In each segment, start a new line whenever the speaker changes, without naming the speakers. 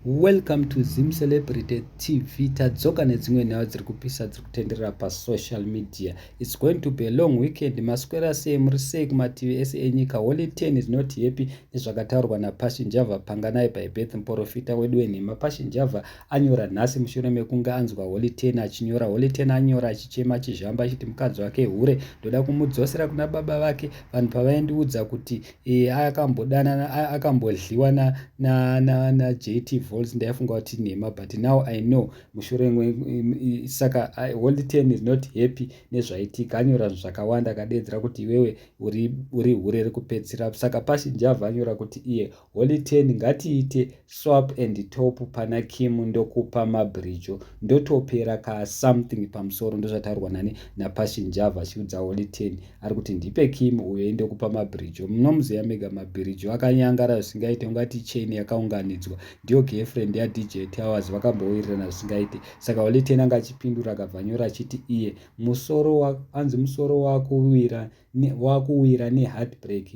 Welcome to Zim Celebrity TV. Tadzoka nedzimwe nhau dziri kupisa dziri kutenderera pasocial media. It's going to be a long weekend. Maswera sei muri sei kumativi ese enyika. Holy ten is not happy nezvakataurwa naPassion Java Panganai by Beth Mporofita wedu wenhema. Passion Java anyora nhasi mushure mekunge anzwa Holy ten achinyora. Holy ten anyora achichema achizhamba achiti mukadzi wake hure. Ndoda kumudzosera kuna baba vake vanhu pavaindiudza kuti Eh, akambodanana akambodliwa na na na, na JT Volts ndaifunga kuti nhema but now I know mushure mwe saka I, Holy Ten is not happy nezvaitika anyora zvakawanda akadeedzera kuti iwewe uri uri hure rekupedzisira saka pashi Njava anyora kuti iye Holy Ten ngatiite Swap and top pana Kim ndokupa mabridge ndotopera ka something pamusoro ndozvataurwa nani naPassion Java achiudza Holy Ten ari kuti ndipe Kim uyo indokupa mabridge munomuziva mega mabridge akanyangara zvisingaite ungati chain yakaunganidzwa ndiyo girlfriend yaDJ Towers vakambowirirana zvisingaite saka Holy Ten anga achipindura akabva nyora achiti iye musoro anzi musoro wakuwira wakuwira neheartbreak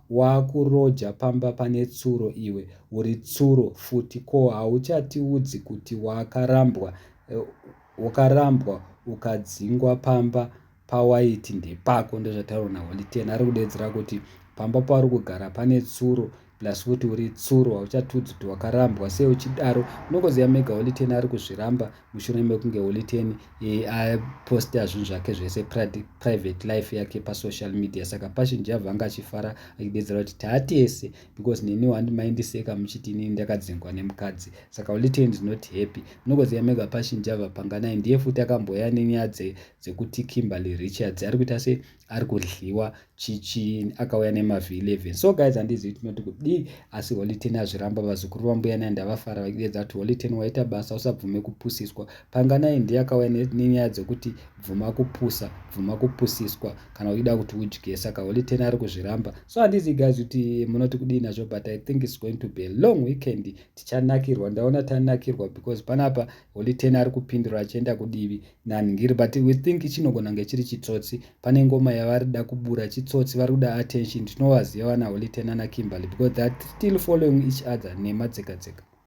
Wakuroja pamba pane tsuro iwe uri tsuro futi ko hauchatiudzi kuti wakarambwa wakarambwa ukadzingwa pamba pawaiti ndepako ndozvataurwa na Holy Ten ari kudedzera kuti pamba pauri kugara pane tsuro plus futi uri tsuro hauchatiudzi kuti wakarambwa sei uchidaro munongoziva mega Holy Ten ari kuzviramba mushure mekunge holiten aposta zvinhu zvake zvese private life yake pasocial media saka passion java anga achifara achidedzera kuti taatese because neni wandimaindiseka muchiti inini ndakadzingwa nemukadzi saka holiten is not happy munokoziva mega passion java panganai ndiye futi akamboya nenyaya dzekuti kimberly richards ari kuita se ari kudliwa chichi akauya nemavhi 11 so guys handizivi tinoti kudii asi holy ten azviramba vazukuru vambuya nai ndavafara vachiedza kuti holy ten waita basa usabvume kupusiswa panganai ndiye akauya nenyaya dzekuti bvuma kupusa bvuma kupusiswa kana uchida kuti udye saka holy ten ari kuzviramba so handizivi guys kuti munoti kudii nazvo but i think its going to be a long weekend tichanakirwa ndaona tanakirwa because panapa holy ten ari kupindura achienda kudivi nani ndiri but we think chinogona kunge chiri chitsotsi pane ngoma yavari da kubura chitsotsi vari kuda attention tinovaziva vana holite nana kimberly because theyare still following each other nema dzeka dzeka